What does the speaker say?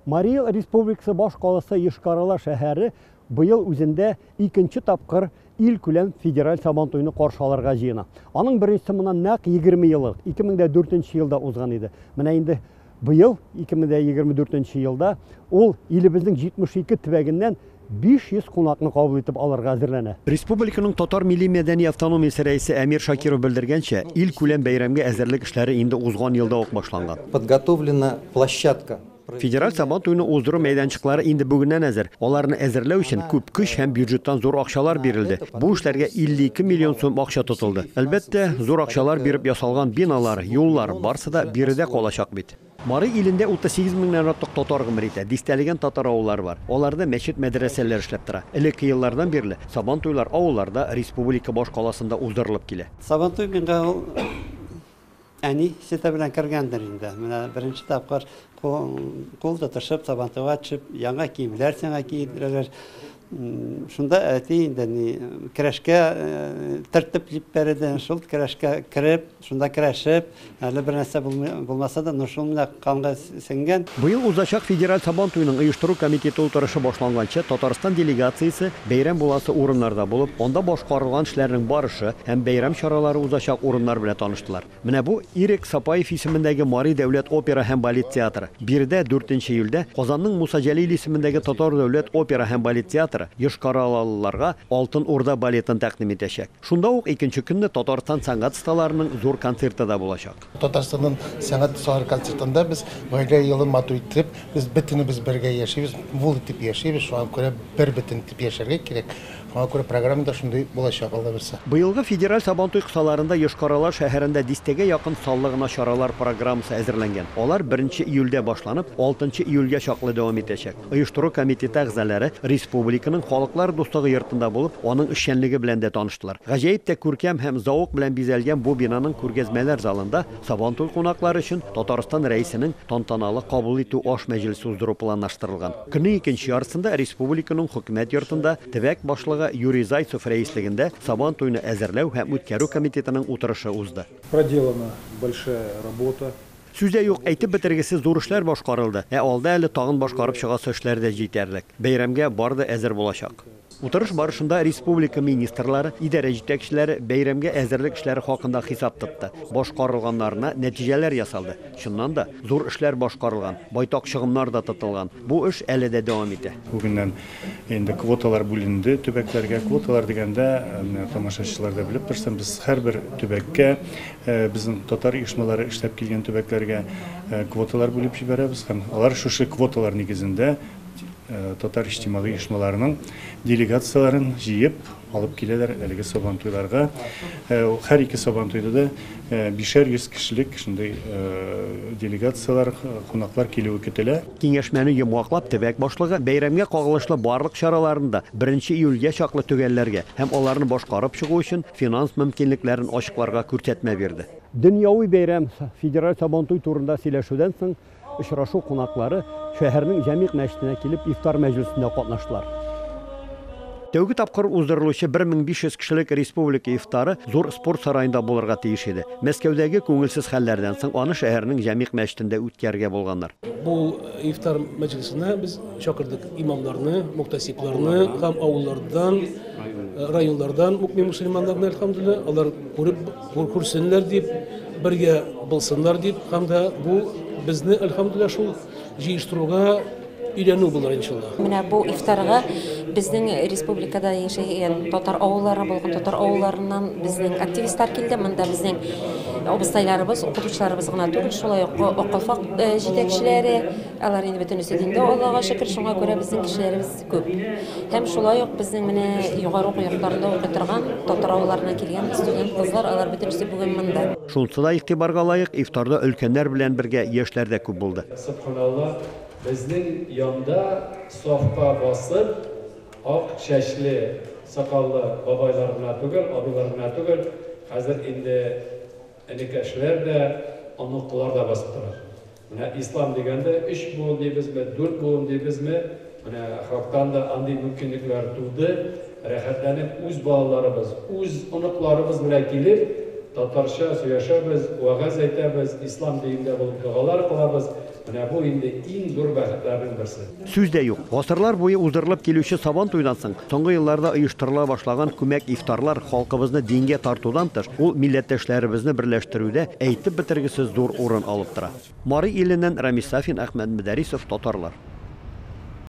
Марий Эл Республикасы башкаласы Йошкар-Ола шәһәре быел үзендә икенче тапкыр илкүләм федераль Сабантуйны каршы алырга җыена. Аның беренчесе моннан нәкъ 20 ел элек, 2004 елда узган иде. Менә инде быел, 2024 елда, ул илебезнең 72 төбәгеннән 500 кунакны кабул итеп алырга әзерләнә. Республиканың татар милли-мәдәни автономиясе рәисе Әмир Шакиров белдергәнчә, илкүләм бәйрәмгә әзерлек эшләре инде узган елда ук башланган. Подготовлена площадка. Федераль Сабантуйны уздыру мәйданчыклары инде бүгеннән әзер. Аларны әзерләү өчен күп көч һәм бюджеттан зур акчалар бирелде. Бу эшләргә 52 миллион сум акча тотылды. Әлбәттә, зур акчалар биреп ясалган биналар, юллар, барсы да биредә калачак бит. Мари илендә 38 меңнән артык татар гомер итә, дистәләгән татар авыллары бар. Аларда мәчет-мәдрәсәләр эшләп тора. Элекке еллардан бирле Сабантуйлар авылларда, республика башкаласында уздырылып килә. Сабантуй миңа ул әни сөте белән кергәндер инде. Менә беренче тапкыр кул тотышып, Сабантуйга төшеп, яңа киемнәр сиңа киендерәләр. Шунда әти инде ни керәшкә төртеп җиппәр иде. Шул керәшкә кереп, Шунда керәшеп, әле бер нәрсә булмаса да, но шул менә канга сеңгән. Быел узачак федераль Сабан туеның оештыру комитеты утырышы башланганчы Татарстан делегациясе бәйрәм буласы урыннарда булып, анда башкарылган эшләрнең барышы һәм бәйрәм чаралары узачак урыннар белән таныштылар. Менә бу, Ирек Сапаев исемендәге Мари дәүләт опера һәм балет театры. Биредә, дүртенче июльдә, Казанның Муса Җәлил исемендәге Татар дәүләт опера һәм балет театры йошкаралалыларга Алтын Урда балетын тәкъдим итәчәк. Шунда ук икенче көнне Татарстан сәнгать осталарының зур концерты да булачак. Татарстанның сәнгать осталары концертында без гаилә елын матур иттереп, без бөтенебез бергә яшибез, мул итеп яшибез, шуңа күрә бербөтен итеп яшәргә кирәк. Шуңа күрә программа да шундый булачак, Алла бирса. Быелгы федераль Сабантуй кысаларында Йошкар-Ола шәһәрендә дистәгә якын саллы гына чаралар программасы әзерләнгән. Алар беренче июльдә башланып, алтынчы июльгә чаклы дәвам итәчәк. Оештыру комитеты әгъзалары республиканың Халыклар дуслыгы йортында булып, аның эшчәнлеге белән дә таныштылар. Гаҗәеп тә күркәм һәм зәвык белән бизәлгән бу бинаның күргәзмәләр залында Сабантуй кунаклары өчен Татарстан Рәисенең тантаналы кабул итү аш мәҗлесе уздыру планлаштырылган. Көннең икенче яртысында республиканың Хөкүмәт йортында төбәк башлыгы Юрий Зайцев рәислегендә Сабантуйны әзерләү һәм үткәрү комитетының утырышы узды. Проделана большая работа. Сүз дә юк, әйтеп бетергесез зур эшләр башкарылды, ә алда әле тагын башкарып чыгасы эшләр дә җитәрлек. Бәйрәмгә бар да әзер булачак. Утырыш барышында республика министрлары, идарә җитәкчеләре бәйрәмгә әзерлек эшләре хакында хисап тотты, башкарылганнарына нәтиҗәләр ясалды. Чыннан да, зур эшләр башкарылган, байтак чыгымнар да тотылган. Бу эш әле дә дәвам итә. Бүгеннән Инде квоталар бүленде төбәкләргә. Квоталар дигәндә, менә тамашачылар да белеп торсын, без һәрбер төбәккә, безнең татар оешмалары эшләп килгән төбәкләргә квоталар бүлеп җибәрәбез һәм алар шушы квоталар нигезендә татар иҗтимагый оешмаларының делегацияләрен җыеп, Алып киләләр әлеге сабантуйларга. Һәр ике сабантуйда да бишәр йөз кешелек шундый делегацияләр, кунаклар килүе көтелә. Киңәшмәне йомгаклап, төбәк башлыгы бәйрәмгә кагылышлы барлык чараларны да беренче июльгә чаклы төгәлләргә һәм аларны башкарып чыгу өчен финанс мөмкинлекләрен ачыкларга күрсәтмә бирде. Дөньяви бәйрәм, федераль сабантуй турында сөйләшүдән соң, Очрашу кунаклары шәһәрнең Җәмигъ мәчетенә килеп ифтар мәҗлесендә катнаштылар. Тәүге тапкыр уздырылучы 1500 кешелек республика ифтары зур спорт сараенда булырга тиеш иде. Мәскәүдәге күңелсез хәлләрдән соң аны шәһәрнең Җәмигъ мәчетендә үткәрергә булганнар. Бу ифтар мәҗлесенә без чакырдык имамнарны, мухтәсибларны һәм авыллардан, районнардан мукмин-мөселманнарны, әлхәмдүлилләһ, алар күреп, Хур күрсеннәр дип, бергә булсыннар дип, һәм дә бу безне, әлхәмдүлилла, шул җыештыруга өйрәнү булыр иншалла. Менә бу ифтарга безнең республикада яшәгән татар авыллары булган татар авылларыннан безнең активистлар килде. Монда безнең абыстайларыбыз, укытучыларыбыз гына түгел, шулай ук акылфак э, җитәкчеләре, алар инде бөтенесе диндә Аллага шөкер, шуңа күрә безнең кешеләребез Күп. Һәм шулай ук безнең менә югары уку йортларында укый торган татар авылларыннан килгән студент кызлар, алар бөтенесе бүген монда. Шунысы да игътибарга лаек, ифтарда өлкәннәр белән бергә яшьләр дә күп булды. Собханалла, безнең янда сафка басып, ак чәчле, сакаллы бабайлар гына түгел, абыйлар гына түгел, хәзер инде энекәшләр дә, оныклар да басып тора. Менә ислам дигәндә, өч буын дибезме, дүрт буын дибезме, менә Хактан да андый мөмкинлекләр туды, рәхәтләнеп үз балаларыбыз, үз оныкларыбыз белән килеп, татарча сөйләшәбез, вәгазь әйтәбез, ислам диндә булып догалар кылабыз, менә бу инде иң зур бәхетләрнең берсе. Сүз дә юк, гасырлар буе уздырылып килүче Сабан туйдан соң, соңгы елларда оештырыла башлаган күмәк ифтарлар халкыбызны дингә тартудан тыш, ул милләттәшләребезне берләштерүдә әйтеп бетергесез зур урын алып тора. Мари иленнән Рамис Сафин, Әхмәт Мөдәрисов, Татарлар.